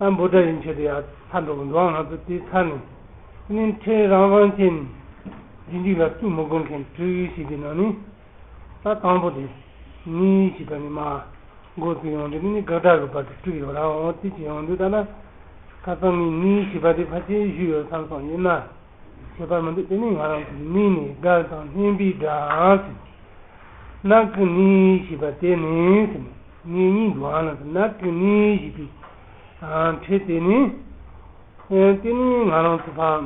ཨ་འབོ་སྒྲ་ཡིན་ཆེད་དུ་ཡང་ཚར་འགྲོ་གི་འདུག་ང་ཚོ་དེའི་ཚར་ནས་ནི་ཁྲེལ་རང་རང་ཅན་རྗེ་འཇིགས་ལ་བཙུན་མོ་དགོན་མཁན་གྲོས་ཡུལ་ཞིག་གི་ནང་ནི་ད་དང་པོ་དེ་ནི་ཞེས་པ་ནི་མ་འགོ་བཙུགས་ཡོང་དུས་ནི་ནི་དགག་སྒྲ་གི་བར་དུ་བསྐྲུགས་ཡོད་རང་འོ་དེ་བྱས་ཡོང་དུས་ད་ལ་ཁ་སང་ནི་ནི་ཞེས་པ་དེ་ཕར་ཆེར་བཞུད་ཡོད་བསམ་སོང་ཡིན་ན། ཁྱད་པར་མི་འདུག་དེ་ནི་ང་རང་གི་མིག་ནི་སྒར་དང་སྨན་པའི་སྒྲ། ནགས་ཀྱི་ནི་ཞེས་པ་དེ་ནི་ངེད་གཉིས་འགྲོ་འང་ན་དུ་ནགས་ཀྱི་ནི་ཞེས་པའི་ཁྲེལ་དེ་ནི། དེ་ནི་ང་རང་ཚོ་ཕ།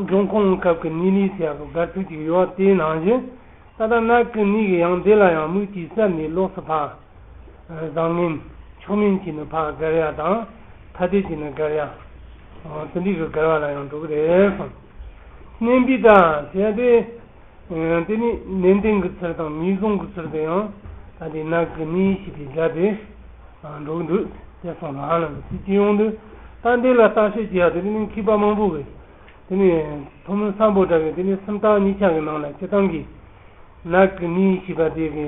འབྱུང་ཁུངས་སྐབས་ཀྱི་ནི་ལི་ཚེ་ཡག་གི་སྒར་ཚུགས་ཀྱི་ཡོད་དེ་ནང་བཞིན་ད་ལྟ་ནགས་ཀྱི་ནི་གི་ཡང་འདི་ལ་ཡང་མིག་གཅིག་གསར་ནས་ལོགས་སུ་ཕ། བཟང་ངན། ཕྱོགས་ངན་གྱིས་ནི་ཕག་སྒར་ཡག་དང། ཐ་དད་ཀྱིས་ནི་སྒར་ཡག། ཟིན་བྲིས་སུ་སྒར་བ་ལ་ཡང་འགྲོ་གི་རེད་གསུངས། གནས་འདི་དག་བྱས་ཏེ། དེ་ནི་ནན་ཏན་གྱི་ཚུལ་དང་ངེས་བཟུང་གི་ཚུལ་དུ་ཡང་ད་ལྟའི་ནགས་ཀྱི་གནས་ཡིག་ཞིག་གིས་སྦྱར་ཏེ་འགྲོ་གི་འདུག་ཅེས་གསུངས་ལ། སྲིད་སྤྱི་ཡོངས་འདུས་སྟངས་འདི་ལ་བརྟག་དཔྱད་བགྱི་ཡག་དེ་ནི་མཁས་པ་མང་པོ་བས་དེ་ནི་ཐུགས་མི་བསམ་པོ་འདྲ་བས་དེ་ནི་སུམ་རྟགས་གཉིས་ཆ་གི་ནང་ལ་སྤྱི་བཏང་གིས་ནགས་ཀྱི་གནས་ཡིག་ཞེས་པ་དེ་གའི།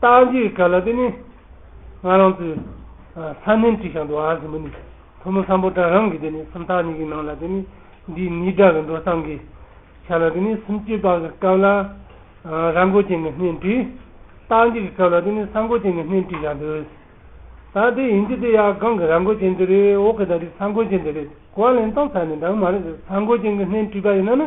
སྟག་འགྱིག་དགའ་ལ་དེ་ནི། ང་རང་ཚོའི། ས་གནོན་དྲི་ཞག་འདུ་བ་ཟིན་པོ་ནི། ཕོ་མོ་སམ་པོ་དགྲ་རང་གི་དེ་ནི་སུམ་རྟགས་གཉིས་ཀྱི་ནང་ལ་དེ་ནི། འདི་ནི་དགྲ་གི་འགྲོ་སྟངས་ཀྱི། ཆ་ལ་དེ་ནི་སུམ་བཅུའི་པང་གི་སྐབས་ལ། ར་མགོ་ཅན་གྱི་སྣེ་དྲི། སྟག་འགྱིག་གི་སྐབས་ལ་དེ་ནི་ས་མགོ་ཅན་གྱི་སྣེ་དྲི་ཞག་འདུ། ད་དེ་ཡིན་གྱི་དེ་ཡང་སྒང་གི་ར་མགོ་ཅན་དེ་རེད་འོག་གི་ད་རི་ས་མགོ་ཅན་དེ་རེད་གོ་བ་ལེན་སྟངས་ཚ་ནས་འདང་མ་རེད་ཟ་མགོ་ཅན་གྱི་སྣེ་དྲི་པ་ཡིན་ན་ནི།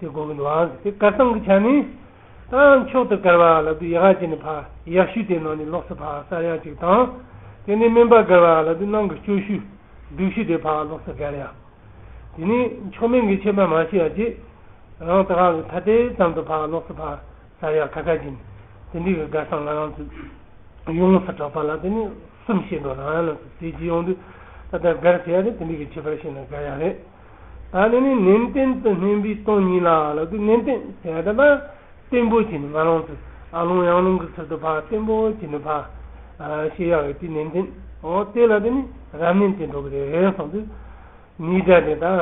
དེ་སྒོ་གི་ལའང་དེ་དཀར་གཙང་གི་བྱ་ནི། དང་མཆོག་ཏུ་དཀར་བ་ལ་དུ་ཡག་ཅིག་ནི་ཕག་ཡག་ཤུལ་དེའི་ནང་ནས་ལོགས་སུ་ཕག་གསར་ཡག་ཅིག་དང། དེ་ནས་སྨན་པ་དཀར་བ་ལ་དུ་སྣང་གི་སྐྱོ་ཤུལ་སྡུག་ཤུལ་དེའི་ཕག་ལོགས་སུ་དཀར་ཡག། དེ་ནས་མཆོག་དམན་གྱི་ཁྱད་པར་མ་ཤེས་པ་ཅིག། རང་དག་གི་ཐ་དད་ཙམ་དུ་ཕག་ལོགས་སུ་ཕག་གསར་ཡག་ཁ་ཁ་ཅིག་ནི། དེ་འདྲིས་གི་དཀར་གཙང་ང་རང་ཚོས་ཡོངས་སུ་གྲགས་པ་ལ་དེ་ནི་གསུམ་ཤེས་འགྲོ་ལ་ཡང་ལ་དུ་ཟས་ཀྱི་ཡོང་དུས་ད་ལྟར་དཀར་ཟེར་ཡ་རེད་དེ་འདྲིས་གི་ཁྱད་པར་ཤེས་ན་དཀར་ཡག་རེད། ད་ནི་ནི་ནན་ཏན་དུ་སྨན་པའི་སྟོང་ཉིད་ལ་ལ་གི་ནན་ཏན་ཟད་དམ་པ། བརྟན་པོ་བྱས་ནས་ང་རང་ཚུ་ཨ་ལུང་ཡང་ལུང་གི་ཚུལ་དུ་ཕ་བརྟན་པོ་བྱས་ནས་ཕ། ཞེས་ཡང་ཡོད་དེ་ནན་ཏན་འོ་དེ་ལ་དེ་ནི་རབ་ནན་ཏན་འགྲོ་གི་རེད་རེད་གསུངས་དུས། ནི་སྒྲ་དེ་དང་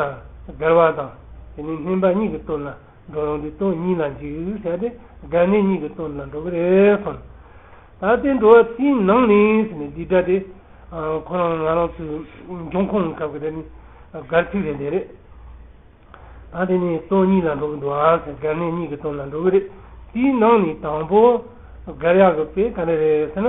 འགལ་བ་དང་དེ་ནི་སྨན་པ་ཉིད་ཀྱི་བསྟོད་ན། འགྲོ་རུང་དུ་སྟོང་ཉིད་ལ་འཇུག་བྱ་སྟེ་སྒྲ་གནས་གཉིས་ཀྱི་སྟོང་ལ་འགྲོ་གི་རེད་སོང། ད་ལྟའི་འགྲོ་བ་ཚེའི་ནང་ནས་ཟེར་ནས་འདི་སྒྲ་དེ་ཁོ་རང་ང་རང་ཚོའི་འབྱུང་ཁུངས་སྐབས་ཀྱི་སྒྲ་ནི་སྒར་ཚིག་རེད་འདི་རེད། ད་དེ་ནི་སྟོང་ཉིད་ལ་འགྲོ་གི་འདུག་ཨང་ཟེར་སྒྲ་གནས་གཉིས་ཀྱི་སྟོང་ལ་འགྲོ་གི་རེད་དེའི་ནང་ནས་དང་པོ་སྒར་ཡག་གི་དཔེ་ག་འདྲ་རེད་ཟེར་ན།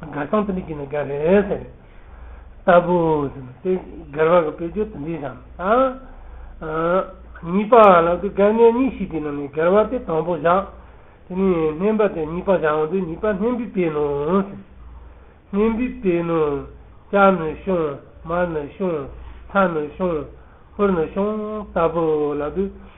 དགའ་སྟངས་དེ་འདྲ་བགྱིས་ན་དགའ་རེད་ཟེར། ལྟ་བུ། དེ་སྒེར་བར་གྱི་བེད་སྤྱོད་དེ་འདྲའི་བྱམས་དང། གཉིས་པ་ལ་དེ་དགའ་ངན་གཉིས་ཤིག་དེའི་ནང་ནས་སྒེར་བར་དེ་དང་པོ་བཞག། དེ་ནས་སྨན་པ་དེ་གཉིས་པ་བཞག་འོན་ཏེ་གཉིས་པ་སྨན་པས་བལྟས་ནོ། སྨན་པས་བལྟས་ནོ། སྐྱག་ནི་བཤུང། མར་ནི་བཤུང། ཚྭ་ནི་བཤུང། ཧུར་ནི་བཤུང། ལྟ་བུ་ལ་དེ།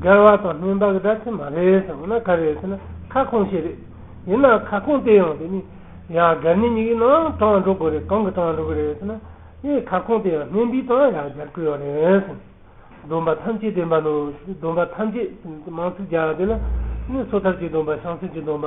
སྒེར་བ་དང་མིན་པ་གི་སྒྲ་ཚིག་མ་རེད་ཟེར་བ་ན་ག་རེད་ཟེར་ན་ཁ་སྐོང་བྱེད་རེད། ཡིན་ནའང་ཁ་སྐོང་སྟེ་ཡང་དེ་ནི་ཡང་སྒེར་ནི་གཉིས་ཀྱི་ནང་ཡང་དྲང་འགྲོ་དགོས་རེད་གང་གི་དྲང་འགྲོ་གི་རེད་ཟེར་ན་དེ་ཁ་སྐོང་སྟེ་ཡང་སྨན་པའི་དང་ཡང་སྒེར་དགོས་ཡོད་རེད་ཟེར། སྡོམ་པ་ཐམས་ཅད་བདེན་པ་ནོ། སྡོམ་པ་ཐམས་ཅད་དམངས་སྲིད་བརྒྱ་དེ་ལ་ནི་སོ་ཐར་གྱི་སྡོམ་པ་བྱང་སེམས་ཀྱི་སྡོམ་པ་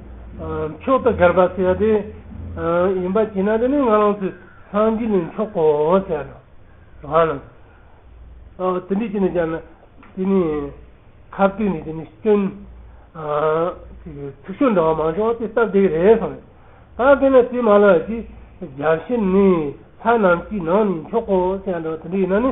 མཆོག་ཏུ་དགར་བ་ཟེར་བ་དེ་ཡིན་པ་གྱིས་ན་དེ་ནི་ང་རང་ཚོའི་སངས་རྒྱས་ལས་མཆོག་གོ་ཟེར་བ་དང། དེ་འདྲས་ཀྱིས་ནི་ཀྱང་ན་དེ་ནི་ཁ་བཏུད་ནས་དེ་ནི་སྐྱོན། ཚིག་ཤོད་འདྲ་བ་མང་ཆུང་བ་དེ་སྟབས་བདེ་གི་རེད་བསམ། ད་གིན་ན་དེ་མ་ལགས་ཀྱིས་རྒྱ་གཞི་ནི་ལྷ་རྣམས་ཀྱི་ནང་ནས་མཆོག་གོ་ཟེར་བ་འདྲ་བ་དེ་འདྲས་ཡིན་ན་ནི།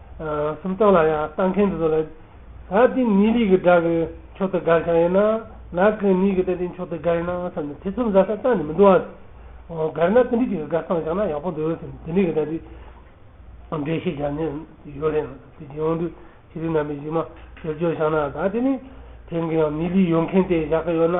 སུམ་རྟགས་ལ་ཡང་ལྟ་མཁན་དེ་ཚོ་ལ། ད་ལྟའི་ནི་ལི་གི་སྒྲ་གི་མཆོག་ཏུ་དགར་བྱ་ཡིན་ན། ལག་གི་ནི་གི་ད་ལྟའི་མཆོག་ཏུ་དགར་ཡིན་ནའང་བསམ་ནས་ཐེ་ཚོམ་ཟ་ས་ཙམ་ནི་མི་འདུག་ཨང། དགར་ན་ཏི་ལི་ཅིག་གི་དགར་སྟངས་བཞག་ན་ཡག་པོ་འདུག་ཟེར་ནས་ཏི་ལི་གི་ད་ལྟའི་འགྲེལ་བཤད་བྱ་ནི་ཡོད་རེད། དེ་རྗེས་འོང་དུས་ཤེས་རིག་རྣམ་པས་གཞི་མ་ཕྱིར་བསྐྱོད་བཞག་ན་ད་ལྟའི་ནི་དེང་གི་ཡང་ནི་ལི་ཡོད་མཁན་དེ་བཞག་གི་ཡོད་ན།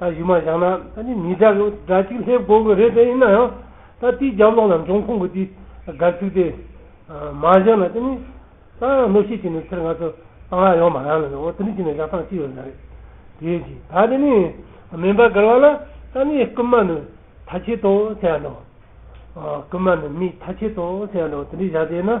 ད་གཞུ་མ་བཞག་ན་ད་ནི་མི་དགྲ་གི་དགྲ་གཅིག་སླེབས་དགོས་གི་རེད་དེ་ཡིན་ན་ཡང་ད་དེའི་རྒྱབ་ལོག་ན་འབྱུང་ཁུངས་ཀྱི་དེའི་སྒར་ཚུགས་དེ་མ་བཞག་ན་དེ་ནི་ད་ཡང་གནོད་བཤད་བྱས་ནས་ཚེར་ང་ཚོ་ཏང་ཡག་ཡོང་མ་རང་ལ་ཡོང་དེ་འདྲ་བྱས་ན་བཞག་ཐང་ཅི་ཡོད་ན་རེད་དེའི་རྗེས་ད་དེ་ནི་མིན་པ་སྒར་བ་ལ་ད་ནི་རྐུན་མ་ནི་ཐ་ཆད་དོ་ཟེར་ཡག་འདྲ་བོ་རྐུན་མ་ནི་མི་ཐ་ཆད་དོ་ཟེར་ཡག་འདྲ་བོ་དེ་འདྲ་བཞག་དེ་ཡིན་ན་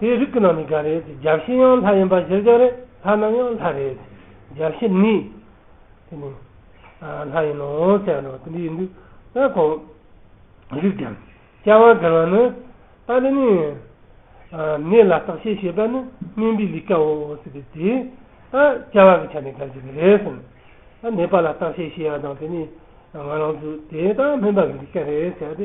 དེའི་རིགས་ཀྱི་ནང་ནས་འགའ་རེས་སྦྱར་གཞི་ཡང་ལྷ་ཡིན་པ་གཞིར་བཞག་རེད་ལྷ་རྣམས་ཡང་ལྷ་རེད་དེ་སྦྱར་གཞི་ནི། དེ་ནི། ལྷ་ཡིན་ནོ་ཟེར་བ་དེ་འདི་ཡིན་དུས་ད་གང། རིགས་ཀྱང། སྐྱེ་བ་འགལ་བ་ནི། ད་དེ་ནི། གནས་ལ་བརྟག་དཔྱད་བྱེད་པ་ནི་སྨན་པའི་ལས་ཀའོ་ཟེར་བས་དེ། སྐྱེ་བ་གི་ཆ་ནས་འགལ་གྱི་རེད་ཟེར་ནས། གནས་པ་ལ་བརྟག་དཔྱད་བྱེད་ཡ་དང་དེ་ནི། ང་རང་ཚོས་དེ་ད་སྨན་པ་གི་ལས་ཀ་རེད་ཟེར་ཏེ་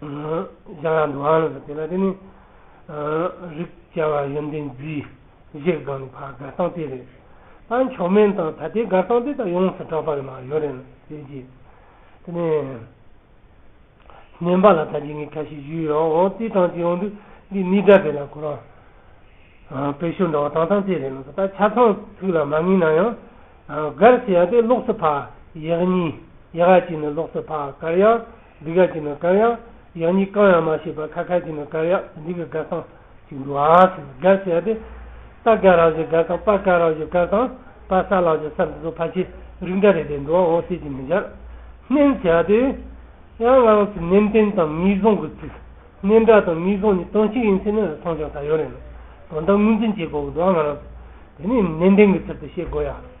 བྱ་བ་འགྲོ་བ་ལ་སོགས་པའི་ལ་དེ་ནི། རིགས་བྱ་བ་ཡོན་ཏན་རྫིས་བཞིར་དགང་ནས་བར་དགར་སྟངས་དེ་རེད། ད་མཆོག་དམན་དང་ད་ལྟའི་དགར་སྟངས་དེ་དང་ཡོངས་སུ་གྲགས་པ་རེད་མ་ཡོད་རེད་ཟེར་གྱི། དེ་ནས། ནོན་པ་ལ་ད་རྗེས་ངས་ཁ་ཞིག་ཞུས་ཡོད་འོ་རྩིས་གྲངས་ཅི་ཡོང་འདུག་འདི་གནས་སྒྲ་དེ་ལ་གོ་རང། དཔེ་ཤོ་འདྲ་བ་དྭངས་དྭངས་དེ་རེད་ལ་སོགས་ད་ཆ་ཚང་ཚིག་ལ་མ་ངེས་ན་ཡང། དགར་ཟེར་ཡག་དེ་ལོགས་སུ་ཕག་ཡག་གཉིས་ཡག་གཅིག་ནི་ལོགས་སུ་ཕག་དགར་ཡག། འདི་ག་གྱི་ནི་དཀར་ཡག། ཡང་གཉིས་གང་ཡང་མ་བྱས་པར་ཁ་ཁ་གྱི་ནི་དཀར་ཡག་འདི་གི་དཀར་སང་ཞིག་འདུག་ཨ་ཟེར་ནས་དགག་བྱས་ཏེ། ད་དགག་རང་བཞིན་དཀར་སང་པ་དཀར་རང་བཞིན་དཀར་སང་པ་ས་རང་བཞིན་སར་འདི་ཚོ་ཕ་ཆེ་རིགས་འདྲ་རེད་པས་འགྲོ་བ་འོང་ཟེར་གྱི་མི་འཆར། མནན་བྱས་ཏེ། ཡང་སྔགས་ཚིག་མནན་བསྟན་དང་ངེས་བཟུང་གི་ཚིག། མནན་དགག་དང་ངེས་བཟུང་གཉིས་དོན་གཅིག་ཡིན་ཚེ་ནི་མཐོང་ཆུང་ད་ཡོད་རེད། དོན་དག་ངོས་འཛིན་བྱེད་དགོས་ཀྱི་འདུག་ཨ་ང་རང་ཚོས་དེ་ནི་མནན་བསྟན་གྱི་ཚུལ་དུ་ཤེས་དགོས་ཡ།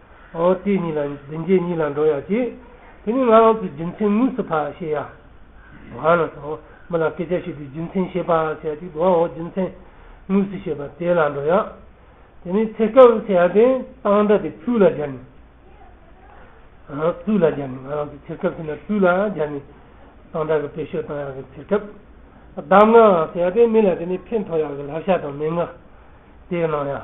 ཨོ་དེ་ཉིད་ལ་འདི་མཇེ་ཉིད་ལ་འགྲོ་ཡག་ཅིག། དེ་ནི་ང་རང་ཚོའི་རྒྱུ་མཚན་དངོས་སུ་ཕར་བཤད་ཡག། བར་ན་ཚོ་མི་ལ་སྐད་ཆ་ཤོད་དུས་རྒྱུ་མཚན་བཤད་ཕར་བཤད་ཅིག་དུ་ཨོ་རྒྱུ་མཚན་དངོས་སུ་བཤད་པ་དེ་ལ་འགྲོ་ཡག། དེ་ནི་ཚེ་སྐབས་ཚེ་ཡག་དེ་སྟངས་འདྲ་དེ་སྤུས་ལ་སྦྱར་ནས། སྤུས་ལ་སྦྱར་ནས་ང་རང་ཚོའི་ཚེ་སྐབས་ཚེ་ན་སྤུས་ལ་སྦྱར་ནས་སྟངས་འདྲ་གི་པེ་ཤོད་སྟངས་ཡག་གི་ཚེ་སྐབས། གདམས་ངག་ཡག་དེ་མི་ལ་དེ་ནི་ཕན་ཐོགས་ཡག་གི་ལག་ཤ་དང་མན་ངག་དེ་གནང་ཡག།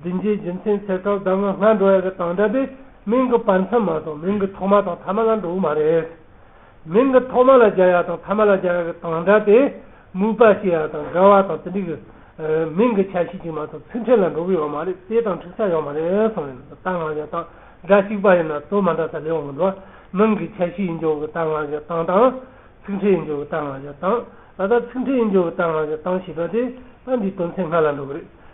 བདུན་རྗེས་རྒྱུ་མཚན་ཚེ་སྐབས་ཟླ་ངོ་སྔ་འགྲོ་བ་དང་འདྲ་སྟེ་མིང་གི་བར་མཚམས་མ་དང་མིང་གི་ཐོག་མ་དང་ཐ་མ་ལ་འགྲོ་བ་མ་རེད། མིང་གི་ཐོག་མ་ལ་སྦྱར་ཡ་དང་ཐ་མ་ལ་སྦྱར་ཡ་གི་དང་སྒྲ་དེ་མུས་པ་ཤེས་ཡ་དང་འགལ་བ་དང་དེ་འདྲི་གི། མིང་གི་ཆ་ཤས་གཅིག་མ་དང་ཚུལ་ཕྲན་ལ་འགྲོ་གི་ཡོད་མ་རེད་དེ་དང་འཁྲིག་ས་ཡོད་མ་རེད་གསུངས་ཡོད་ན་དང་སྔགས་ཀྱི་དང་སྒྲ་གཅིག་པ་ཡིན་ན་དོན་མ་འདྲ་ས་ལེའུ་མི་འགྲོ་བ་མིང་གི་ཆ་ཤས་ཡིན་རྒྱུ་གི་དང་སྔགས་ཀྱི་དང་དང། ཚིག་ཕྲན་ཡིན་རྒྱུ་གི་དང་སྔགས་ཀྱི་དང། ད་ལྟ་ཚིག་ཕྲན་ཡིན་རྒྱུ་གི་དང་སྔགས་ཀྱི་དང་ཞེས་པ་དེ་ད་འདིའི་དོན་ཚན་སྔ་ལ་འགྲོ་གི་རེད།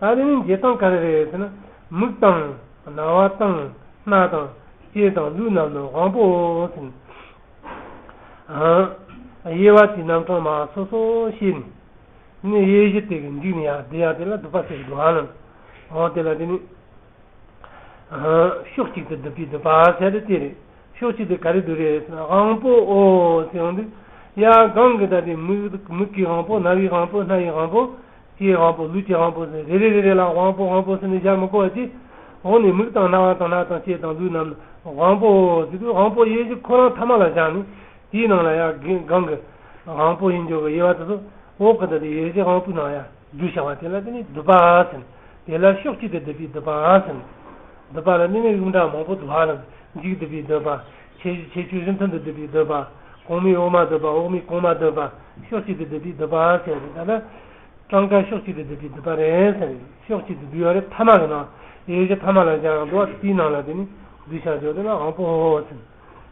ད་དེ་ནི་འབྱེད་སྟངས་ག་རེ་རེད་ཟེར་ན། མིག་དང། རྣ་བ་དང། སྣ་དང། ལྕེ་དང་ལུས་རྣམས་ནི་དབང་པོའོ་ཟེར། དབྱེ་བ་དེ་རྣམ་གྲངས་མ་སོ་སོ་ཤེས་ནས། ནི་དབྱེ་གཞི་དེ་གི་འཇིག་ནི་ཡང་དེ་ཡང་དེ་ལ་སྡུད་པ་སེལ་གྱི་སྡུད་ཨང་ན། འོ་དེ་ལ་དེ་ནི། ཕྱོགས་གཅིག་ཏུ་སྡུད་པའི་སྡུད་པ་ཟེར་ཏེ་དེ་རེད། ཕྱོགས་གཅིག་ཏུ་ག་རེ་སྡུད་རེད་ཟེར་ན་དབང་པོའོ་ཟེར་འོང་དུས། ཡང་གང་གི་ད་དེ་མིག་གི་དབང་པོ་རྣ་བའི་དབང་པོ་སྣ་ཡི་དབང་པོ། སྐྱེས་དབང་པོ་ལུས་ཀྱི་དབང་པོ་ཟིན་རེ་རེ་རེ་རེ་ལ་དབང་པོ་དབང་པོ་ཟིན་ནས་བཞག་མི་དགོ་བ་ཅི། འོག་ནས་མིག་དང་རྣ་བ་དང་སྣ་དང་ལྕེ་དང་ལུས་རྣམས་དབང་པོ་ཟིན་དུས་དབང་པོ་དབྱེ་གཞི་ཁོ་རང་ཐ་མ་ལ་བཞག་ནས་དེའི་ནང་ལ་ཡང་གང་གི་དབང་པོ་ཡིན་འགྱུར་བའི་དབྱེ་བ་དེ་ཚོ་འོག་གི་འདི་ལྟར་དབྱེ་གཞི་དབང་པོའི་ནང་ཡང་རྒྱུ་བྱ་བ་དེ་ལ་དེ་ནི་བསྡུ་བ་ཟིན། དེ་ལ་ཕྱོགས་གཅིག་ཏུ་བསྡུས་པས་བསྡུ་བ་ཟིན། བསྡུ་བ་ལ་གནས་མལ་གཡུང་དྲུང་མང་པོ་བསྡུ་བ་ལ་འཇིགས་བསྡུས་པས་བསྡུ་བ། ཆེས་བཞི་ཆེས་བཅུའི་རིམ་མཐུན་དུ་བསྡུས་པའི་བསྡུ་བ། གོང་མའི་འོག་མ་བསྡུ་བ་འོག་མའི་གོང་མ་བསྡུ་བ། ཕྱོགས་གཅིག་ཏུ་བསྡུས་པའི་བསྡུ་བ་ཞེས་རེད་ད་ལ། སྤྲང་དཀར་ཕྱོགས་གཅིག་ཏུ་བསྡུས་པའི་བསྡུ་བ་རེད་ཟེར། ཕྱོགས་གཅིག་ཏུ་བསྡུས་པ་རེད་མཐའ་མ་གི་ནང་ཡོད་ཀྱི་མཐའ་མ་ལ་སྦྱར་ཡང་འགྲོ་བ་དེའི་ནང་ལ་དེ་ནི་བསྡུ་བྱ་འཇོག་དོན་ལ་དབང་པོ་ཧོ་ཧོ་ཟེར།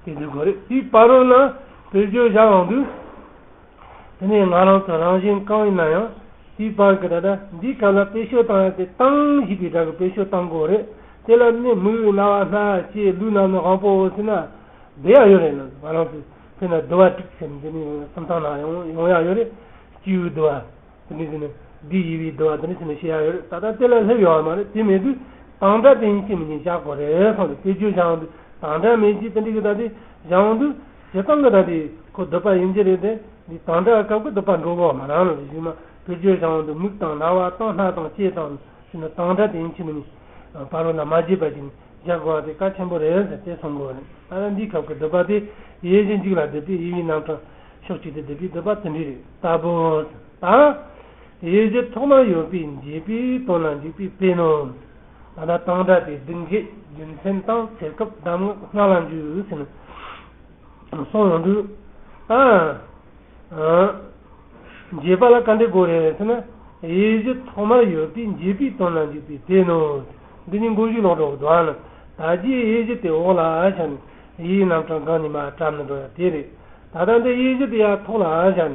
དེ་བསྡུ་དགོས་རེད་དེའི་བར་རོ་ན་བོད་བརྗོད་བྱ་འོང་དུས། དེ་ནས་ང་རང་ཚོ་རང་བཞིན་གང་ཡིན་ན་ཡང་དེའི་བར་གྱི་ད་ལྟ་འདིའི་སྐབས་ལ་དཔེ་ཤོད་སྟངས་ཡང་དེ་སྟངས་བཞི་པའི་སྒྲ་གི་དཔེ་ཤོད་སྟངས་གོ་རེད་དེ་ལ་ནི་མིག་དབྱིབས་རྣ་བ་སྣ་ལྕེ་ལུས་རྣམས་ནི་དབང་པོ་བོ་ཟེར་ན་བདེ་ཡག་ཡོད་རེད་ནང་ང་རང་ཚོས་ཕེ་ན་བསྡུ་བ་དྲུག་ཟེར་འདི་ནི་སུམ་རྟགས་ནང་ཡང་ཡོང་ཡག་ཡོད་རེད་སྤྱི་བོའི་བསྡུ་བ་དེ་ནས་ཟེར་ན་བདུད་དབྱི་བའི་བསྡུ་བ་དེ་ནས་ཟེར་ན་ཤེས་ཡག་ཡོད་རེད་ད་ལྟ་དེ་ལ་སླེབས་ཡོང་བ་མ་རེད་དེ་མེད་དུས་དང་སྒྲ་དེ་ཡིན་ཤེས་མི་ཉན་ཤག་གོ་རེད་སོང་དེ་དཔེ་བརྗོད་བཞག་འོང་དུས་དང་སྒྲ་མེད་ཅེས་དེ་འདྲི་གི་ད་དེ་བཞག་འོང་དུས། བྱེད་སྟངས་འདི་དག་གིས་ཁོ་སྡུག་པ་ཡིན་གྱི་རེད་དེ། འདི་དང་འདྲ་སྐབས་ཁོ་སྡུག་པ་འགྲོ་བའོ་མ་རང་ལ་གཞུག་ན་བུ་རྒྱུད་བྱང་བ་འདུག་མིག་དང་རྣ་བ་དང་སྣ་དང་ལྕེ་དང་ཞུ་ན་དང་འདྲ་དེ་ཡིན་གྱི་མིན། བ་རོ་ན་མ་བརྗེད་པ་ཅིག་རྒྱག་དགོས་བ་དེ་ཀ་ཆེན་པོ་རེད་ཟེར་དེ་སོང་དགོས་རེད་ད་ལན་འདིའི་ཁབ་ཀྱི་སྡུག་པ་དེ་ཡེ་གཞི་འཇིག་ལ་སྡུག་པའི་དབྱེ་བའི་རྣམ་གྲངས་ཤོག་ཅིག་དེ་སྡུག་པའི་སྡུག་པ་ཚུལ་འདི་རེད་ལྟ་བུ། ད། ཡེ་གཞི་ཐོག་མ་ཡོད་པའི་འཇིག་པའི་དོན་ལ་འཇུག་པའི་དཔེ་ནོ། ད་ལྟ་སྟངས་སྒྲ་དེ་སྒྲིག་འབྱེད་རྒྱུ་མཚན་བཏང་ཚེ་སྐབས་གདམས་ངག་སྔ་ལ་འཇུག་ཟིན་སོང་ཡོང་དུས། འབྱེད་པ་ལ་བཀའ་འདྲི་དགོས་རེད་ཟེར་ན། དབྱེ་གཞི་ཐོག་མར་ཡོད་པའི་འབྱེད་པའི་དོན་ལ་འཇུག་པའི་དེ་ནོ། འདི་ཉིད་མགོ་མཇུག་ལོག་འགྲོ་བ་དང། ད་རྒྱའི་དབྱེ་གཞི་དེ་འོག་ལ་བཞག་ནས་དབྱེའི་རྣམ་གྲངས་སྒང་ཉི་མ་བཀྲམ་ནས་འགྲོ་ཡ་དེ་རེད། ད་ལྟ་འདི་དབྱེ་གཞི་དེ་ཡ་ཐོག་ལ་བཞག་ནས།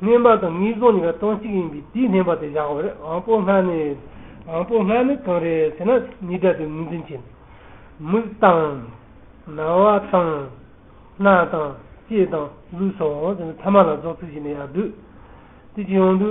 བསྙེན་པ་དང་ངེས་བཟུང་གཉིས་ཀ་དོན་གཅིག་ཡིན་པས་དེའི་བསྙེན་པ་དེ་བཞག་པར་དབང་པོ་ལྔ་ནི། དབང་པོ་ལྔ་ནི་གང་རེད་ཟེར་ན་ཉིས་སྒྲ་དེ་ངོས་འཛིན་བྱེད། མིག་དང། རྣ་བ་དང། སྣ་དང། ལྕེ་དང། ལུས་སོ། ཐ་མ་ལ་རྫོགས་ཚིག་བཞི་ནི་ཡར་བསྡུ། དེ་ཅི་ཡང་བསྡུ།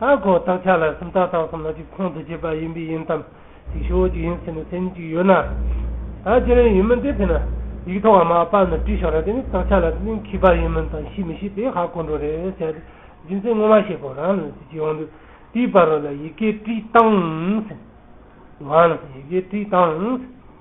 ཨ་ཁོ་བདག་ཅག་ལ་སུམ་རྟགས་དང་སུམ་ལ་གཅིག་ཁོང་དུ་ཆུད་པ་ཡིན་པས་ཡིན་དམ། ཅིག་ཤོས་གཅིག་ཡིན་ཟེར་ནས་སེམས་གཅིག་ཡོད་ན། ད་ཁྱེད་རང་ཡིན་མིན་དེ་ཐད་ན་ཡིག་ཐོག་མ་པར་ནས་བྲིས་ཤོག་ར་དེ་ནི་བདག་ཅག་ལ་གླིང་གི་པར་ཡིན་མིན་དང་ཤི་མི་ཤི་དེ་ཧ་གོ་འགྲོ་རེད་བྱས་ཏེ་རྒྱུ་མཚན་ངོ་མ་ཤེས་པོ་རང་ལ་ཅི་ཡོང་དུས་དེའི་པར་རོ་ལ་ཡི་གེ་བྲིས་བཏང། ཡི་གེ་བྲིས་བཏང།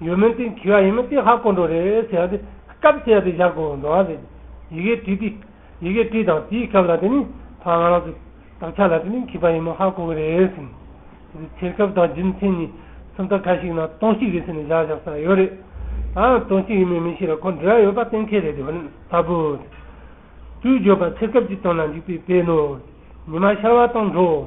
ཡོད་མིན་ཏེ་འཁྱིལ་བ་ཡིན་མིན་ཏེ་ཧ་གོ་འགྲོ་རེད་ཟེར་ཡང་དེ་སྐབས་དེ་ཡང་དེ་བཞག་དགོས་འགྲོ་བ་རེད། ཡི་གེ་བྲིས་ཏེ། ཡི་གེ་བྲིས་དང་དེའི་སྐབས་ལ་དེ་ནི་ཕ་ང་རང་ཚོས་བདག་ཅག་ལ་དེ་ནི་འཁྱིལ་པ་ཡིན་མིན་ཧ་གོ་གི་རེད་ཟིན། དེ་ཚེ་ཆེར་སྐབས་དང་རྒྱུ་མཚན་གཉིས་སུམ་རྟགས་ཁ་ཞིག་ན་སྟོང་གཅིག་རེད་ཟེར་ནས་བཞག་བཞག་ས་ཡོད་རེད། ད་ཡང་སྟོང་གཅིག་ཡིན་མིན་མི་ཤེས་ར་ཁོ་འབྲི་ར་ཡོད་པ་གཏན་འཁེལ་རེད་དེ་ཧོན་ལྟ་བུའོ། དུས་བརྗོད་པ་ཚེ་སྐབས་ཀྱི་དོན་ལ་འཇུག་པའི་དཔེ་ནོ། ཉི་མ་ཤར་བ་དང་འགྲོ།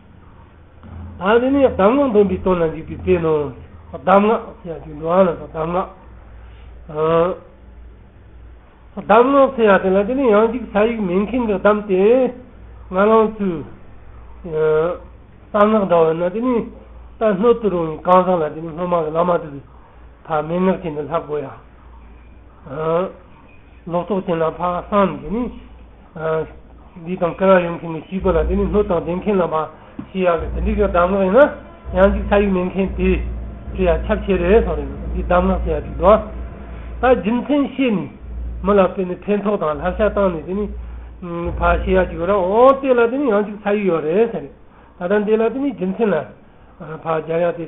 ཨ་འདི་ནི་གདམས་ངག་འདོན་པའི་དོན་ལ་འཇུག་པའི་དཔེ་ནོ། གདམས་ངག་ཚེ་ཡག་ཅིག་འགྲོ་བ་ལ་སོགས་གདམས་ངག། གདམས་ངག་ཚེ་ཡག་དེ་ལ་དེ་ནི་ཡང་ཅིག་ས་ཡིག་མེད་མཁན་གྱི་གདམས་ཏེ། ང་ལང་ཚོའི་གསང་སྔགས་འདྲ་བ་ཡིན་ན་དེ་ནི་ད་སྣོད་དུ་རུང་བའི་གང་ཟག་ལ་དེ་ནི་སྔོན་མ་གི་བླ་མ་དུ་བའི་ཕར་མན་ངག་ཅན་དུ་ལྷག་གོ་ཡ། ལོག་རྟོག་ཅན་ལ་ཕ་བསམ་དེ་ནི། འདི་དང་སྐལ་བ་ཡོད་མཁན་གྱི་བྱིས་པ་ལ་དེ་ནི་སྣོད་དང་ལྡན་མཁན་ལ་མ་ཤེས་ཡག་ལས་དེ་འདྲའི་གི་གདམས་ངག་ཡིན་ན་ཡང་ཅིག་ཆ་ཡིག་མེད་མཁན་དེ་ཁྲི་ཡ་ཁྱབ་ཆེ་རེད་སོང་རེད་འདི་གདམས་ངག་ཆེ་ཡ་ཅིག་འདུག་ད་རྒྱུ་མཚན་བཤད་ནས་མི་ལ་ཕན་ནི་ཕན་ཐོག་དང་ལྷག་ཤ་བཏང་ནས་དེ་ནི་ཕ་ཤེས་ཡག་ཅིག་ཡོད་ར་འོ་དེ་ལ་དེ་ནི་ཡང་ཅིག་ཆ་ཡིག་ཡོད་རེད་ཟེར་རེད་ད་ད་འདི་ལ་དེ་ནི་རྒྱུ་མཚན་ལ་ཕ་རྒྱ་ཡག་དེ།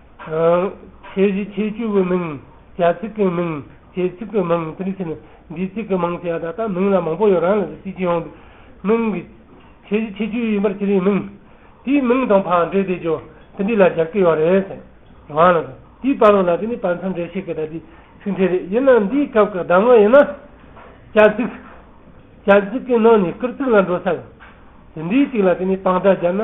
ཁྱད་གཞི་ཁྱད་གཅོད་བའི་མིང། བྱ་ཚིག་གི་མིང། བྱེད་ཚིག་གི་མིང། དེ་ཕྱིར་འདིས་ཚིག་གི་མིང་བྱ། ད་ལྟ་མིང་ལ་མང་པོ་ཡོད་རང་ལ་གཅིག་ཀྱང་ཡོང། མིང་གི་ཁྱད་གཞི་ཁྱད་གཅོད་ཡིན་པར་ཁྱེད་རིགས་མིང། དེའི་མིང་དང་ཕ་འདྲེ་བདེ་སྦྱོར། དེ་འདྲི་ལ་སྦྱར་གྱི་ཡོད་རེད། རང་ལ་དེའི་བར་ལོ་ལ་དེ་ནི་བར་མཚམས་འདྲེ་བཤད་ཀྱི་ད་ལྟའི་ཚིག་འདྲེ་རེད། ཡིན་ནའང་འདིའི་སྐབས་ཀྱི་གདམ་ངག་ཡིན་ན། བྱ་ཚིག། བྱ་ཚིག་གི་ནང་ནས་སྐུར་ཚིག་ལ་འགྲོ་ས་ཡོད། དེ་འདྲིའི་ཚིག་ལ་དེ་ནི་དཔང་རྟགས་སྦྱར་ན།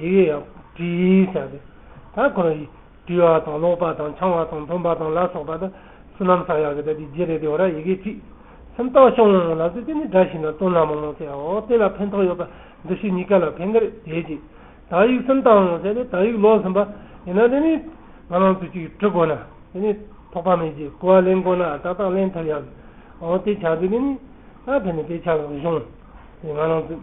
ཡི་གེ་ཡང་བྲི་ཞིང་བྱ་སྟེ། ད་གང་ཡིན། བྲི་བ་དང་ཀློག་པ་དང་འཆང་བ་དང་འཐུང་བ་དང་ལ་སོགས་པ་དང་བསོད་ནམས་བསག་ཡག་གི་ད་དེ་རྗེས་རེད་དེ་འོ་ར་ཡི་གེ་བྲིས། སེམས་རྟོགས་ཤོང་ལབ་ཙེ་དེ་ནི་སྒྲ་ཞིག་ན་སྟོན་ལ་མང་མང་ཟེར་ཨོ་དེ་ལ་ཕན་ཐོགས་ཡོད་པ་འདི་ཞིག་གཉིས་ཀ་ལ་ཕན་གི་རེད་དེའི་རྗེས་དག་ཡིག་སེམས་བཏང་ཟེར་ཏེ་དག་ཡིག་ཀློག་ཟིན་པ་ཡིན་ན་དེ་ནི་ང་རང་ཚོས་ཅིག་བྲི་དགོས་ན་དེ་ནི་ཐོགས་པ་མེད་རྗེས་དགུ་བ་ལེན་དགོས་ན་ཏག་ཏག་ལེན་ཐུབ་ཡག་གི་ཨོ་དེ་བྱ་དེ་དེ་ནི་ད་ཕན་ནི་དེ་བྱ་ལ་གཞུང་དེ་ང་རང་ཚོས།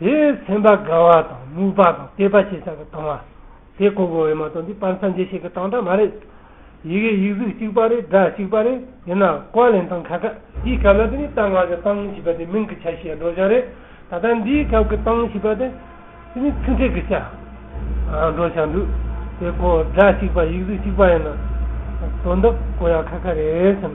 དེ་སེམས་པ་དགའ་བ་དང་རྨུགས་པ་དང་བལྟས་པ་ཞེས་བྱ་བའི་དང་བ། དེ་གོ་བགོ་བས་མ་གཏོགས་འདི་སྤར་མཚམས་འབྱེད་བྱེད་ཀྱི་སྟངས་སྒྲ་མ་རེད། ཡི་གེ་ཡིག་གཟུགས་གཅིག་པ་རེད་སྒྲ་གཅིག་པ་རེད་ཡིན་ན་ཀོ་ལན་དང་ཁ་ཁ། འདིའི་སྐབས་ལ་དེ་ནི་སྟངས་སྔགས་ཀྱི་སྟངས་ཞེས་པ་དེ་མིང་གི་ཆ་ཤས་སྒྲོག་བྱང་རེད། ད་ལྟ་འདིའི་སྐབས་ཀྱི་སྟངས་ཞེས་པ་དེ་དེ་ནི་ཚིག་འཕྲད་ཀྱི་ཆ་སྒྲོག་བྱང་འདུག་དེ་གོ་སྒྲ་གཅིག་པ་ཡིག་གཟུགས་གཅིག་པ་ཡིན་ན་དོན་དག་གོ་ཡང་ཁ་ཁ་རེད་བསམ།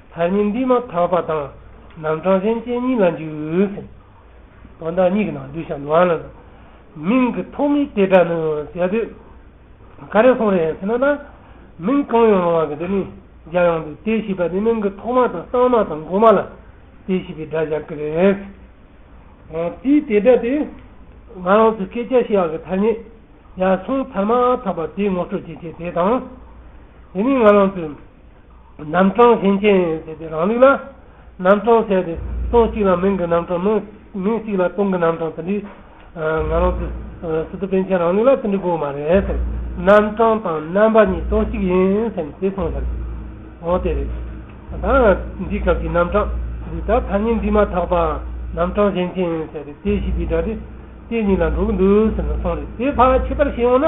མཐར་ཉིད་འདི་མ་ཐག་པ་དང་ནམ་གྲངས་གཞན་ཅན་གཉིས་ལ་འཇུག་ཟིན། དོན་དག་གཉིས་ཀྱི་ནང་གདུལ་བྱ་འདུལ་བ་ལ་དང་མིང་གི་ཐོག་མའི་དེ་སྒྲ་ནི་ཟད་དུས་ག་རེ་སོང་རེད་ཡང་ཟེར་ན་ན། མིང་གང་ཡོང་རུང་བ་གི་དེ་ནི་སྦྱར་ཡོང་དུས་དེ་ཞེས་པ་ནི་མིང་གི་ཐོག་མ་དང་གསང་མ་དང་འགོ་མ་ལ་དེ་ཞེས་པའི་སྒྲ་སྦྱར་གི་རེད། དེའི་དེ་སྒྲ་དེ་ང་རང་ཚོའི་སྐད་ཆ་ཞེས་བ་གི་མཐར་ཉིད་ཡར་སོང་མཐར་མ་ཐག་པ་དེའི་ངོ་སྤྲོད་ཀྱི་ཆེད་དེ་དང། དེ་ནི་ང་རང་ཚོའི། རྣམ་གྲངས་ཞེན་ཅན་ཟེར་ཏེ་རང་ལུགས་ལ་རྣམ་གྲངས་བྱས་ཏེ་སྟོང་གཅིག་ལ་མིང་གི་རྣམ་གྲངས་མིང་མིང་གཅིག་ལ་སྟོང་གི་རྣམ་གྲངས་དེ་འདྲའི། ང་རང་ཚོ་སི་ཏུ་པཎ་ཆེན་རང་ལུགས་ལ་དེ་འདྲའི་གོ་བ་མ་རེད་ཟེར། རྣམ་གྲངས་དང་རྣམ་པ་གཉིས་སྟོང་གཅིག་ཡིན་ཟེར་ནས་དེ་མཐོང་ཤར་གྱི། འོ་དེ་རེད། ད་འདི་སྐབས་ཀྱི་རྣམ་གྲངས་འདི་ད་ཐ་སྙད་འདྲིས་མ་ཐག་པ་རྣམ་གྲངས་ཞེན་ཅན་ཟེར་ཏེ་དེ་བཞི་དེ་འདྲ་དེ་དེ་གཉིས་ལ་འགྲོ་གི་འདུག་ཟེར་ནས་སོང་རེད་དེ་བར་ཕྱི་བར་ཤེས་ཡོང་ན།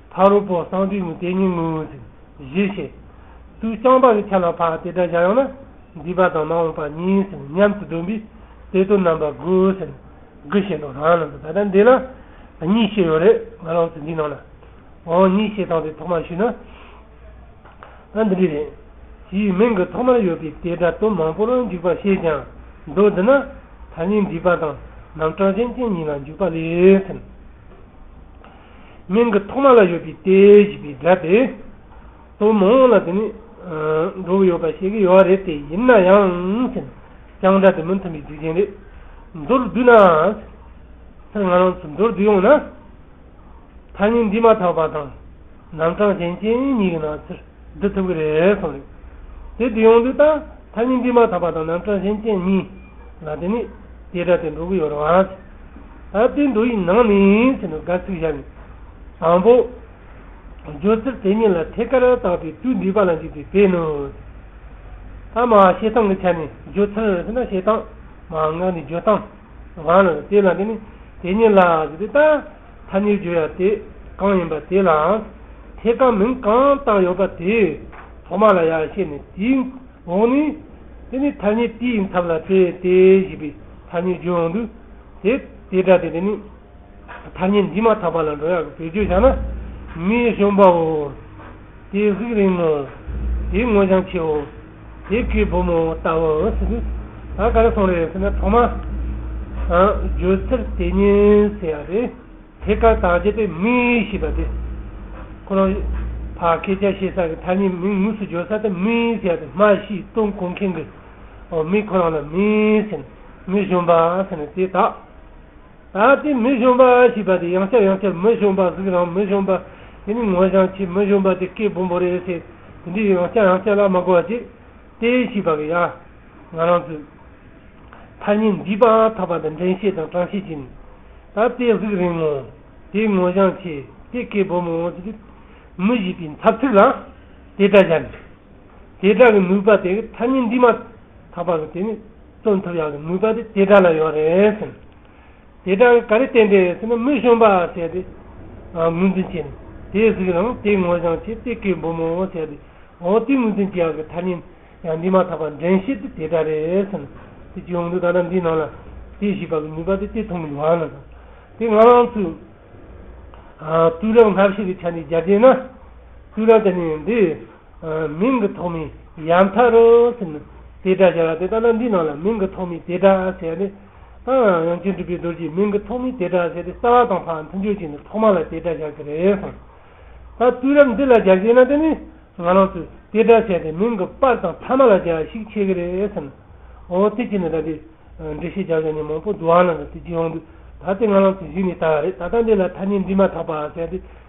ཕ་རོལ་པོ་གསང་འདུས་ནི་དེ་ཉིད་ངོ་བོ་གཞི་བྱེད་དུ་བསྐྱངས་པ་ལས་ཆ་ལ་འཕགས་དེ་སྒྲ་བཞག་ཡང་ན་འདུས་པ་དང་མ་འོངས་པ་གཉིས་སུ་མཉམ་དུ་སྡོམ་པས་དེ་དོན་རྣམ་པ་དགུ་ཟེར་ནས་དགུ་བྱེད་འདུག་རང་རྣམ་དུ་ད་ལྟ་འདི་ལ་གཉིས་བྱེད་ཡོད་རེད་ང་ལོགས་ཚེ་འདིའི་ནང་ན་འོང་གཉིས་བྱེད་དང་དེ་ཐོག་མར་ཞུས་ན་འདི་འདྲའི་རེད་ཞེས་མིང་གི་ཐོག་མར་ཡོད་པའི་དེ་སྒྲ་དོན་མང་པོར་འཇུག་པ་བཤད་ཀྱང་འདུག་འདི་ན་ཐ་སྙད་འདུས་པ་དང་རྣམ་གྲངས་ཅན་ཅན་གཉིས་ལ་འཇུག་པ་ལས་ཟིན། མིང་གི་ཐོག་མ་ལ་ཡོད་པའི་དེ་ཞེས་པའི་སྒྲ་དེ་དང་མང་བ་ལ་དེ་ནི་འགྲོ་བ་ཡོད་པར་བཤད་ཀྱི་ཡོད་རེད་དེ་ཡིན་ན་ཡང་ཟེར་ཀྱང་སྒྲ་དེ་མི་མཐུན་པའི་རྒྱུ་རྐྱེན་རེད། མདོར་བསྡུས་ན། ཟེར་ང་རང་ཚོས་མདོར་བསྡུས་ཡོང་ན། ཐ་སྙད་འདི་མ་དག་པ་དང་རྣམ་གྲངས་གཞན་ཅན་གཉིས་ཀྱི་ནང་ཚུལ་འདི་ཐུབ་ཀྱི་རེད་གསུངས་རེད། དེ་འདི་ཡོང་དུས་ད་ཐ་སྙད་འདི་མ་ཐག་པ་དང་ནང་བཀྲ་ཤིས་ཅན་གཉིས་ལ་དེ་ནི་དེ་འདྲ་དེ་འགྲོ་གི་ཡོད་རེད་བ་ཅི། ད་ལྟའི་འགྲོ་ཡི་ནང་ནས་ཚེ་འདི་དགའ་ཚིག་བཞག་ནས། དང་པོ། བརྗོད་ཚིག་དེ་གཉིས་ལ་ཐད་ཀར་བཏགས་པའི་དུས་འདི་པ་ལ་འཇུག་དུས་བས་ནུ། ཐ་མ་བཤད་སྟངས་ཀྱི་ཆ་ནས་བརྗོད་ཚུལ་ཟེར་ན་བཤད་སྟངས། མ་འགགས་ནས་བརྗོད་སྟངས། གང་ལ་དེ་ལ་དེ་ནི་དེ་གཉིས་ལ་ཟེར་དུས་ད། ཐ་སྙད་བརྗོད་ཡ་དེ་གང་ཡིན་པ་དེ་ལའང་ཐད་ཀར་མིང་གང་བཏགས་ཡོད་པ་དེ་ཐོག་མ་ལ་ཡག་ཤེས་ནས་དེའི་འོག་ནས་དེ་ནི་ཐ་སྙད་དེའི་མཚམས་ལ་བཙལ་ཏེ་ཞེས་པའི་ཐ་སྙད་བརྗོད་འོང་དུས་དེ་དེ་འདྲ་དེ་དེ་ནི་ཐ་སྙད་འདི་མ་ཐག་པ་ལ་འགྲོ་ཡག་གི་བེད་སྤྱོད་བྱ་ན་མིའི་གཞོན་པའོ་དེ་གཟིགས་རིང་ངོ་དེའི་ངོ་བྱང་ཆེའོ། དེ་གའི་བུ་མོ་ལྟ་བུ་འོད་ཟེར་གྱིས། ད་ག་རེ་སོང་རེད་ཟེར་ནས་ཐོག་མར་བརྗོད་ཚུལ་དེ་ཉིད་ཟེར་བ་རེད། དེ་གར་དག་བྱེད་པའི་མིག་ཞེས་པ་དེ། ཁོ་རང་བར་སྐད་ཆ་བཤད་ས་གི་མཐའ་གཉིས་མིག་ངོས་སུ་བརྗོད་ས་དེ་མིག་ཟེར་བ་དེ་སྨྲ་ཤེས་སྟོན་གོ་མཁན་གྱི་མིག་ཁོ་རང་ལ་མིག་ཟེར་ནས་མི་གཞོན་པ་ཟེར་ནས་དེ་དག། ཨ་ཏི་མི་གཞོན་པ་ཨ་ཞེས་པ་དེ་ཡང་ཆ་ཡང་ཆ་མི་གཞོན་པ་གཟུགས་རང་མི་གཞོན་པ་དེ་ནི་ངོ་ཞང་ཆེས་མི་གཞོན་པ་དེ་སྐད་བུ་འབོ་རེད་ཟེར་དེ་འདྲའི་ཡང་ཆ་ཡང་ཆ་ལ་མ་གོ་བ་ཅིག་སྟེ་ཞེས་པ་གི་ཡ། ང་རང་ཚོས་ཐ་སྙད་འདིས་པ་ཐག་པ་དང་འདྲེན་བཤད་དང་དྲང་བཤད་བྱེད་ནས་ད་ལྟའི་གཟུགས་རིང་མོ་དེ་ངོ་ཞང་ཆེ་དེ་སྐད་བུ་མོ་དེ་མི་ཞེས་པའི་འཚབ་ཚུལ་ལ་དེ་ལྟར་སྦྱར་ནས། དེ་དག་གི་ནུས་པ་དེ་གི་ཐ་སྙད་འདིས་མ་ཐག་པ་གི་དེ་ནི་སྟོན་ཐུབ་ཡག་གི་ནུས་པ་དེ་དེ་དག་ལ་ཡོད་རེད་ཟེར། དེ་དག་གི་ག་རེ་བསྟན་དེ་ཟེར་ན་མི་གཞོན་པ་བྱས་ཏེ་ངོས་འཛིན་བྱས་ནས་དེ་གཟིགས་རང་དེ་ངོ་བཞང་བྱས་ཏེ་གའི་འབུ་མང་བོ་བྱས་ཏེ་འོ་དེ་ངོས་འཛིན་བྱས་ཡག་གི་ཐ་སྙད་ཡང་འདིས་མ་ཐག་པ་འདྲེན་བྱེད་དེ་དེ་དག་རེད་ཟེར་ན་དེ་ཅི་ཡོང་དུས་ད་ལྟ་འདིའི་ནང་ལ་དེ་ཞིག་པ་གི་ནུས་པ་དེ་དེ་མཐོང་གི་ཡོང་ཨ་ན་ཟེར། དེ་ང་རང་ཚོས་དུས་རབས་སྔ་ཕྱི་གི་ཆ་འདི་སྦྱར་རྗེས་ན་དུས་རབས་དེ་ནི་འདི། མིང་གི་ཐོག་མའི་ཡང་དག་རང་སེམས་ནི་དེ་སྒྲ་སྦྱར་བ་དེ་ལྟ་ན་འདིའི་ནང་ལ་མིང་གི་ཐོག་མའི་དེ་སྒྲ་ཟེར་ནས། ཡང་སྤྱིར་འགྲུབ་པའི་རྡོ་རྗེའི་མིང་གི་ཐོག་མའི་དེ་སྒྲ་ཟེར་ཏེ་རྩ་བ་དང་ཕ་མཐུན་ཆོས་ཅན་ནི་ཐོག་མ་ལ་དེ་སྒྲ་སྦྱར་གྱི་རེད་གསུངས། ད་དུས་རབས་འདི་ལ་སྦྱར་གྱི་ཡིན་ན་དེ་ནི་ང་རང་ཚོས་དེ་སྒྲ་ཟེར་ཏེ་མིང་གི་པར་དང་ཐ་མ་ལ་སྦྱར་བ་ཞིག་ཆེ་གི་རེད་ཟེར། འོ་དེ་ཅི་ནས་ད་དེ་འདྲི་ཤེས་བྱ་བྱ་ནས་མང་པོ་བསྡུ་བ་ན་ད་དེ་ཅི་ཡོང་དུས་ད་དེ་ང་རང་ཚོས་གཞི་ནས་བལྟ་བ་རེད་ད་ལྟ་འདི་ལ་ཐ་སྙད་འབྲི་མ་ཐག་པ་ཟེར་ཏེ།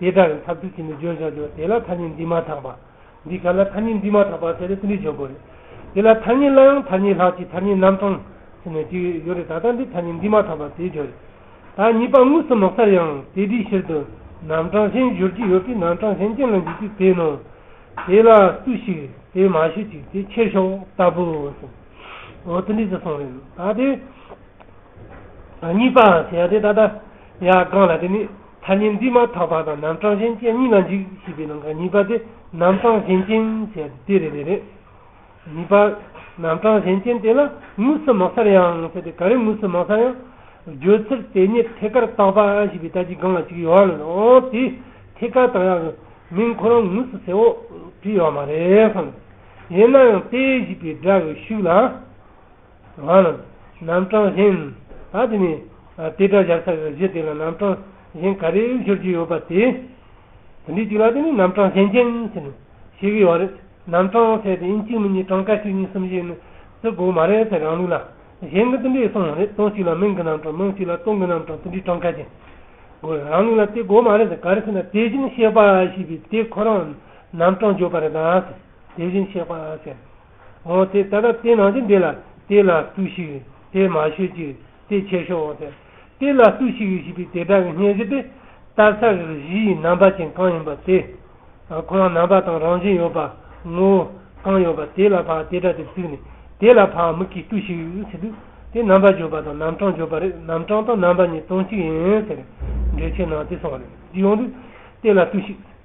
དེ་དག་གི་ཐབས་ཚུལ་ཅི་འདི་བརྗོད་བྱ་བྱོ་དེ་ལ་ཐ་སྙད་འདི་མ་དག་པ། འདི་ག་ལ་ཐ་སྙད་འདི་མ་དག་པ་ཟེར་ཏེ་ཚིག་འདི་བརྗོད་དགོས་རེད། དེ་ལ་ཐ་སྙད་ལ་ཡང་ཐ་སྙད་ལྷག་ཅིག་ཐ་སྙད་རྣམ་གྲངས་ཟེར་ནས་ཅིག་ཡོད་རེད་ད་ལྟ་འདི་ཐ་སྙད་འདི་མ་དག་པ་ཟེར་བྱོ་རེད། ད་ངེས་པ་དངོས་སུ་ལོག་སར་ཡང་དེ་དེའི་ཕྱིར་དུ་རྣམ་གྲངས་གཞན་བརྗོད་ཀྱི་ཡོད་པས་རྣམ་གྲངས་གཞན་གྱི་ལ་འཇུག་ཅིག་དེས་ནོ། དེ་ལ་སུ་ཞིག་དེ་མ་ཞུ་ཅིག་དེ་ཁྱེར་ཤོག་ལྟ་བུའོ་ཟེར། འོ་དེ་འདྲས་ཟེར་སོང་རེད། ད་དེ། ངེས་པ་ཟེར་ཡ་དེ་ད་ལྟ་ཡ་གང་ལ་དེ་ནི། ཐ་སྙད་འདི་མ་དག་པ་དང་རྣམ་གྲངས་གཞན་རྐྱེན་གཉིས་ལ་འཇིག་ཞེས་པའི་ནང་གི་གཉིས་པ་དེ་རྣམ་གྲངས་གཞན་རྐྱེན་ཞེས་པ་དེ་རེད་རེད། གཉིས་པ། རྣམ་གྲངས་གཞན་རྐྱེན་དེ་ལ་དངོས་སུ་མ་གསལ་ཡང་ཟེར་ཏེ་ག་རེ་དངོས་སུ་མ་གསལ་ཡང། བརྗོད་ཚུལ་དེ་ཉིད་ཐད་ཀར་བཏགས་པ་ཞེས་པའི་དག་གི་སྒང་ལ་གཅིག་ཡོད་རེད་འོ་དེ་ཐད་ཀར་བཏགས་ཡག་གི་མིང་ཁོ་རང་དངོས་སུ་གསལ་བོ་བྲིས་ཡོད་མ་རེད་བསམ། ཡིན་ན་ཡང་དེ་ཞེས་པའི་སྒྲ་གི་ཤུགས་ལ། ང་ལ་རྣམ་གྲངས་གཞན། ད་དེ་ནས་དེ་སྒྲ་བཞག་ཚར་བའི་གཞི་དེ་ལ་རྣམ་གྲངས་གཞན་ག་རེ་འབྱོར་གྱི་ཡོད་པ་དེ། དེ་འདྲའི་གཅིག་ལ་དེ་ནི་རྣམ་གྲངས་གཞན་ཅན་ཟེར་ནས་ཤེས་གི་ཡོད་རེད། རྣམ་གྲངས་ཟེར་དེ་ཡིན་གཅིག་མིན་གཉིས་གྲངས་ཀ་བཅུ་གཉིས་གསུམ་བཞི་ནི་བརྩི་དགོས་མ་རེད་ཟེར་རང་ལུགས་ལ་གཞན་གྱི་དེ་འདྲས་གསུངས་ཡོད་རེད་སྟོང་གཅིག་ལ་མིང་གི་རྣམ་གྲངས་མིང་གཅིག་ལ་སྟོང་གི་རྣམ་གྲངས་དེ་འདྲའི་གྲངས་ཀ་ཅན་དགོས་རེད་རང་ལུགས་ལ་བརྩི་དགོས་མ་རེད་ཟེར་ག་རེ་ཟེར་ན་དེ་བཞིན་གཤེགས་པ་ཞེས་པའི་དེ་ཁོ་རང་རྣམ་གྲངས་བརྗོད་པ་རེད་ད་ཟེར་དེ་བཞིན་གཤེགས་པ་ཟེར། འོང་དེ་ད་ལྟ་དེ་ནང་ཅི་འདི་ལ་དེ་ལ་ལྟོས་ཤིག་དེ་མ་ཤོད་ཅིག་དེ་ཁྱེར་ཤོག་འོང་དེ་དེ་ལ་ལྟོས་ཤིག་ཞེས་པའི་དེ་དག་གི་སྙན་གཞི་དེ་ལྟར་ས་རེ་རེ་བཞི་ཡི་རྣམ་པ་ཅན་གང་ཡིན་པ་དེ་དང་ཁོང་རྣམ་པ་དང་རང་བཞིན་ཡོད་པ་ངོ་བོ་གང་ཡོད་པ་དེ་ལ་བག་དེ་སྒྲ་དེར་བཙུད་ནས་དེ་ལ་བག་མིག་གིས་ལྟོས་ཤིག་ཟེར་དུས་དེ་རྣམ་པ་བརྗོད་པ་དང་རྣམ་གྲངས་བརྗོད་པ་རེད་རྣམ་གྲངས་དང་རྣམ་པ་གཉིས་དོན་གཅིག་ཡིན་ཟེར་འགྲེལ་ཆེན་ནང་དེ་གསུངས་རེད་ཡོང་དུས་དེ་ལ་ལྟོས་ཤིག།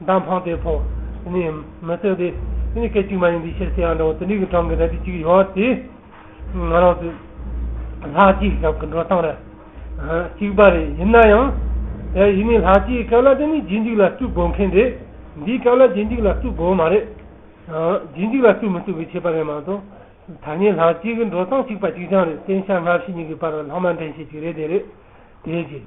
མདའ་འཕངས་ཏེ་ཕོ། ནི། མི་བརྩོན་ཏེ། དེ་ནི་སྐད་ཅིག་མ་ཡིན་འདི་ཕྱིར་ཚེ་ཡང་འདྲ་བོ་དེ་འདྲའི་གི་གྲངས་ཀྱི་རལ་གྲི་གཅིག་ཡོད་དེ། ང་རང་ཚོའི། ལྷག་སྐྱེས་ཀྱི་གྲངས་ཀྱི་འགྲོ་སྟངས་རེད། གཅིག་པ་རེད་ཡིན་ན་ཡང། དེ་ཡིན་ནའི་ལྷག་སྐྱེས་ཀྱི་སྐབས་ལ་དེ་ནི་རྗེས་འཇུག་ལ་བརྩུ་དགོས་མཁན་རེད། འདིའི་སྐབས་ལ་རྗེས་འཇུག་ལ་བརྩུ་དགོས་མ་རེད། རྗེས་འཇུག་ལ་བརྩུ་མི་བརྩུ་བའི་ཁྱད་པར་རེད་མ་གཏོགས། ཐ་སྙད་ལྷག་སྐྱེས་ཀྱི་འགྲོ་སྟངས་གཅིག་པ་གཅིག་རྐྱང་རེད་བསྟན་བྱ་སྔ་ཕྱི་གཉིས་ཀྱི་བར་ལྷག་མ་འདྲེན་བྱེད་ཅིག་རེད་དེ་རེད། དེའི་རྗེས།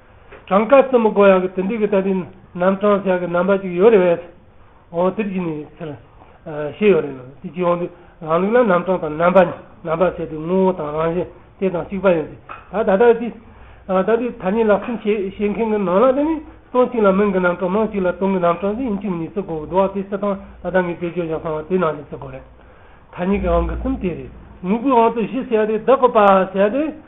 གྲངས་ཀ་ཙམ་མི་གོ་ཡག་གི་དེ་འདྲའི་གི་ད་ལྟའི་ནམ་གྲངས་ཞག་གི་རྣམ་པ་ཅིག་ཡོད་རེད་བས། འོང་དེར་གྱིས་ནས་ཚེར། ཞེས་ཡོད་རེད་ནམ་དེ་གྱིས་འོང་དུས་རང་ལུགས་ལ་ནམ་གྲངས་དང་རྣམ་པ་རྣམ་པར་བྱས་དུས་ངོ་བོ་དང་རང་བཞིན་དེ་དང་གཅིག་པ་ཡིན་ཏེ། ད་ད་ལྟ་དེ། ད་ལྟའི་ཐ་སྙད་ལག་ཟིན་བྱེད་བྱེད་མཁན་གི་ནང་ལ་དེ་ནི་སྟོང་གཅིག་ལ་མིང་གི་རྣམ་གྲངས་མང་གཅིག་ལ་སྟོང་གི་རྣམ་གྲངས་ཅིག་ཡིན་གཅིག་མིན་གཉིས་ཚིག་གོ་བདུ་བ་དེ་སི་ཐང་ད་ལྟ་ངས་བེད་སྤྱོད་བཞག་སོང་བ་དེ་ནང་བཞིན་ཚིག་གོ་རེད། ཐ་སྙད་ཀྱི་དབང་གི་གསུམ་དེ་རེད། དངོས་པོའི་དབང་དུ་བཞི་བྱས་ཏེ་བདག་གོ་པ་བྱས་ཏེ།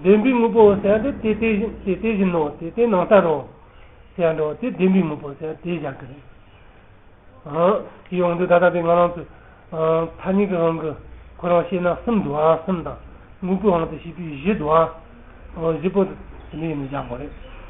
བདེན་པའི་དངོས་པོ་བསལ་འགྲོ་དེ་དེ་བཞིན་དེ་བཞིན་ནོ་དེ་དེ་ནང་ལྟར་རོ། བསལ་འགྲོ་དེ་བདེན་པའི་དངོས་པོ་བསལ་དེ་བཞག་གི་རེད། ཀྱི་ཡོངས་འདུ་ད་ལྟ་པའི་ང་རང་ཚོའི་མཐའ་སྙིང་གི་དབང་གི་ཁོ་རང་ཤེས་ན་གསུམ་འདུའང་གསུམ་དང་དངོས་པོའི་དབང་དུ་བྱས་པའི་བཞི་འདུའང་བཞི་པོ་དེ་འདི་ཡིན་ནོ་བཞག་གོ་རེད།